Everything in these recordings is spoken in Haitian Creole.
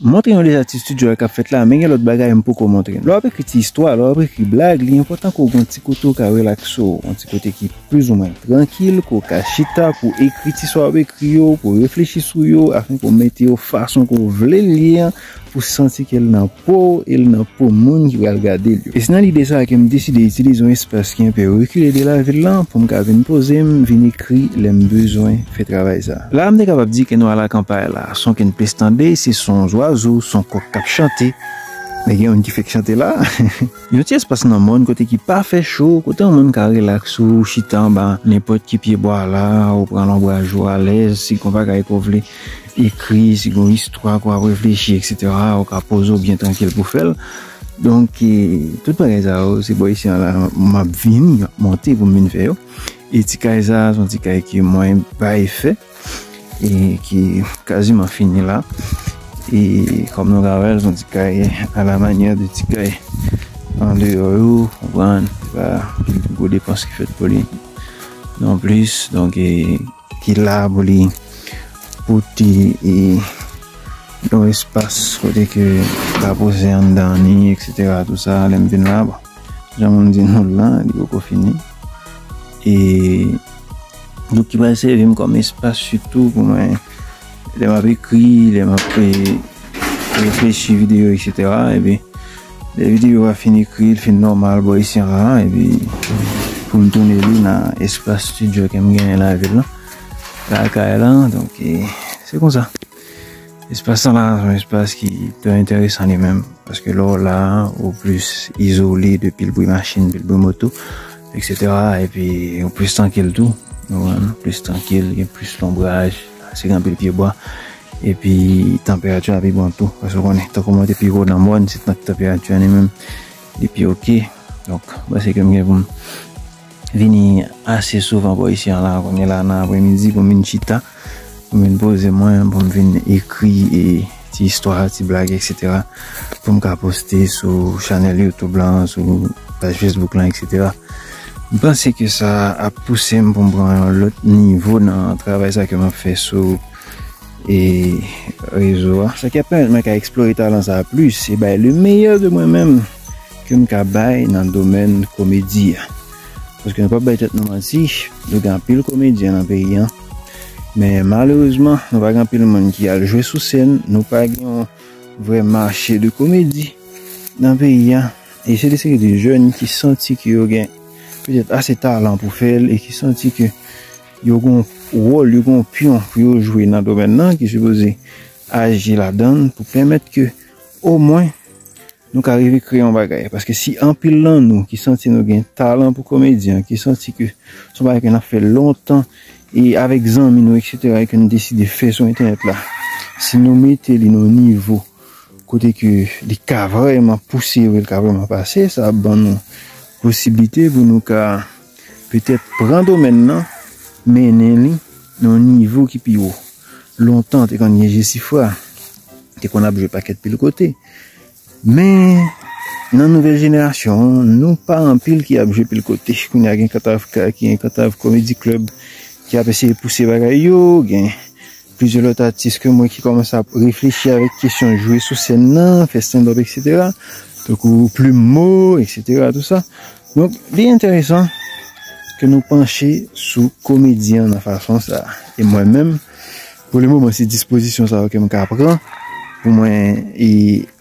M montre nou deja ti studio a k ap fèt la, men gen lòt bagay m poko montre nou. Lè w ap ekri ti istwa, lè w ap ekri blag, li enpòtan ke w gen yon ti kote w ka relakse w, yon ti kote ki plizoumwen trankil, ke w ka chita pou w ekri ti sa w ap ekri yo, pou w reflechi sou yo, afin ke w mete yo fason ke w vle l ye an, pou w santi ke l nan po w e l nan po moun ki pral gade l yo. E se nan lide sa a ke m deside itilize yon espas ki enpe rekile de lavil lan pou m ka vin poze m, vin ekri lè m bezwen fè travay sa. La a m te kapab di ke nou alakanpay la. Son ke n plis tande se son zwazo, son kòk k ap chante. Men gen youn ki fèk chante la a. Yon ti espas nan mòn kote ki pa fè cho, kote yon moun ka relaks ou chita anba nenpòt ki pyebwa la a, ou pran lonbraj ou alèz, si gon bagay ke w vle ekri, si gon istwa ke w ap reflechi eksetera, ou ka poze w byen trankil pou fè l. Donk, tout bagay sa yo, se bò Isyan la m ap vini, m ap monte pou m vin fè yo. E ti kay sa a, se yon ti kay ke mwen bay fè, e ki kaziman fini la. E kòm nou ka wè l, se yon ti kay a la manyè de ti kay andeyò yo, konprann, se pa gen gwo depans ki fèt pou li non plis. Donk, ki la pou li pote yon espas kote ke m ka poze anndan ni, eksetera, tou sa, lè m vin la. Bon, Jan moun di nou lan, li poko fini. E nou ki pral sèvi m kòm espas sitou pou mwen lè m ap ekri, lè m ap reflechi videyo eksetera epi lè videyo a fin ekri, l fin nòmal bò isi anba a epi pou m tounen li nan espas stidyo ke m genyen lavil lan, lakay lan donk se konsa. Espas sa la son espas ki trè enteresan li menm, paske lè w la, ou plis izole de pil bri machin, pil bri moto, eksetera, epi ou plis trankil tou, ou plis trankil, gen plis lonbraj, se gen pil pyebwa, epi tanperati a pi bon tou, paske konnen, tankou mwen te pi wo nan mòn, se tanperati a li menm, li pi ok, donk, mwen se ke mwen gen pou m. vini ase souvan bò isi an la kounye la nan apremidi pou m vin chita, pou m vin poze mwen, pou m vin ekri e ti istwa, ti blag eksetera pou m ka poste sou chanèl YouTube lan, sou paj Facebook lan eksetera. M panse ke sa ap pouse m pou m pran yon lòt nivo nan travay sa ke m ap fè sou e rezo a. Sa ki ap pèmèt mwen ka eksplore talan sa a plis e bay le meyè de mwen menm. Ke m ka bay nan domèn komedi a. Paske nou pap bay tèt nou manti, nou gen anpil komedyen nan peyi an. Men malerezman, nou pa gen anpil moun ki al jwe sou sèn, nou pa gen yon vrè mache de komedi nan peyi a. E se de seri de jèn ki santi ke yo gen petèt ase talan pou fè l, e ki santi ke yo gen yon wòl, yo gen yon pyon pou yo jwe nan domèn nan, ki sipoze aji ladan l pou pèmèt ke omwen. Nou ka rive kreye yon bagay, paske si anpil nan nou ki santi nou gen talan pou komedyen, ki santi ke son bagay ke nap fè lontan e avèk zanmi nou eksetera e ke nou deside fè sou entènèt la, si nou mete li nan yon nivo kote ke li ka vrèman pouse yo e li ka vrèman pase, sa ap ban nou posiblite pou nou ka Petèt pran domèn nan mennen li nan yon nivo ki pi wo. Lontan te konn gen Jesifra, te konn ap jwe pakèt pil kote. Men nan nouvèl jenerasyon an, nou pa anpil ki ap jwe pil kote. Kounye a gen kantav, gen kantav komedi klèb ki ap eseye pouse bagay yo, gen. Plizyè lòt atis ke m wè ki kòmanse ap reflechi avèk kesyon jwe sou sèn nan, fè standup eksetera, tankou Plume Mo eksetera tou sa. Donk li enteresan ke nou panche sou komedyen an nan fason sa. E mwen menm, pou le moman se dispozisyon sa yo ke m ka pran pou mwen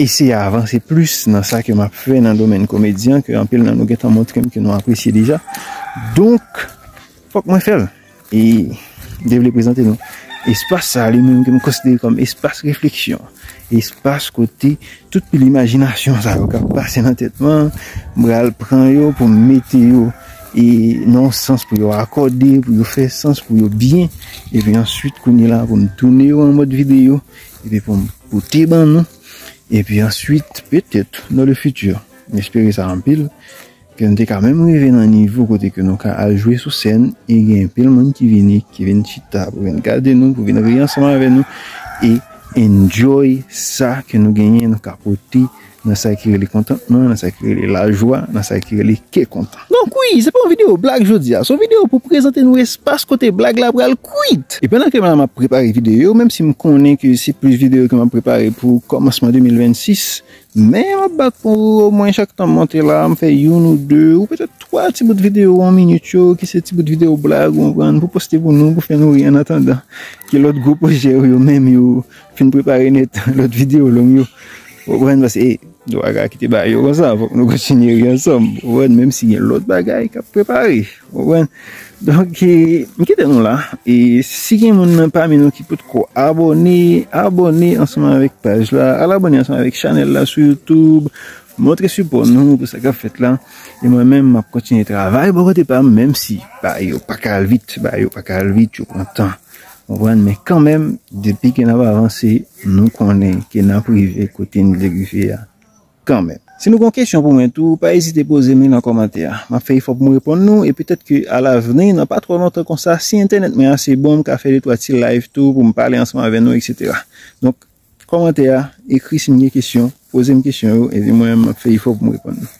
eseye avanse plis nan sa ke m ap fè nan domèn komedyen ke anpil nan nou gentan montre m ke nou apresye deja. Donk fòk mwen fè l. E mte vle prezante nou espas sa li menm ke m konsidere kòm espas refleksyon, espas kote tout pil imajinasyon sa yo k ap pase nan tèt mwen, m pral pran yo pou m mete yo e nan yon sans pou yo akòde, pou yo fè sans, pou yo byen. Epi answit kounye la pou m tounen yo an mòd videyo epi pou m pote ban nou. Epi answit petèt nan le fiti, m espere sa anpil. Ke nou te ka menm rive nan nivo kote ke nou ka al jwe sou sèn e gen anpil moun ki vini, ki vin chita pou vin gade nou, pou vin ri ansanm avè nou e enjoy sa ke nou genyen, nou ka pote nan sa ki rele kontantman, nan sa ki rele lajwa, nan sa ki rele kè kontan. Donk wi, se pa yon videyo blag jodi a, se yon videyo pou prezante nou espas kote blag la pral kwit! E pandan ke m la m ap prepare videyo, menm si m konnen ke se plis videyo ke m ap prepare pou kòmansman 2026, Men m ap bat pou omwen chak tan m monte la a, m fè youn ou de, ou petèt twa ti bout videyo yon minit yo, ki se ti bout videyo blag, ou konprann, pou poste pou nou, pou fè nou ri annatandan ke lòt gwo pwojè ou yo menm yo fin prepare nèt, lòt videyo long yo. Ou konprann? Paske nou pa ka kite bagay yo konsa, fòk nou kontinye ri ansanm, ou konprann, menm si gen lòt bagay k ap prepare. Ouwen, donk m kite nou la, e si gen moun nan pami nou ki pot ko abòne, abòne ansanman avèk paj la, al abòne ansanman avèk chanèl la sou YouTube, montre sipò nou pou sa kap fèt la, e mwen menm map kontinye travay bò kote pa m, menm si bagay yo pa ka al vit, bagay yo pa ka al vit, yo pran tan, ouwen, men kanmenm, depi ke nap avanse, nou konnen ke nap rive kote n vle rive a. Kanmenm. Si nou gen yon kesyon pou mwen tou, pa ezite poze m li nan kòmantè a. M ap fè efò pou m reponn nou, e petèt ke alavni, nan pa twò lontan konsa, si entènèt mwen ase bon, m ka fè detwa ti live tou pou m pale ansanm avè nou, eksetera. Donk, kòmantè a, ekri si m gen kesyon, poze m kesyon yo, epi mwen menm m ap fè efò pou m reponn nou.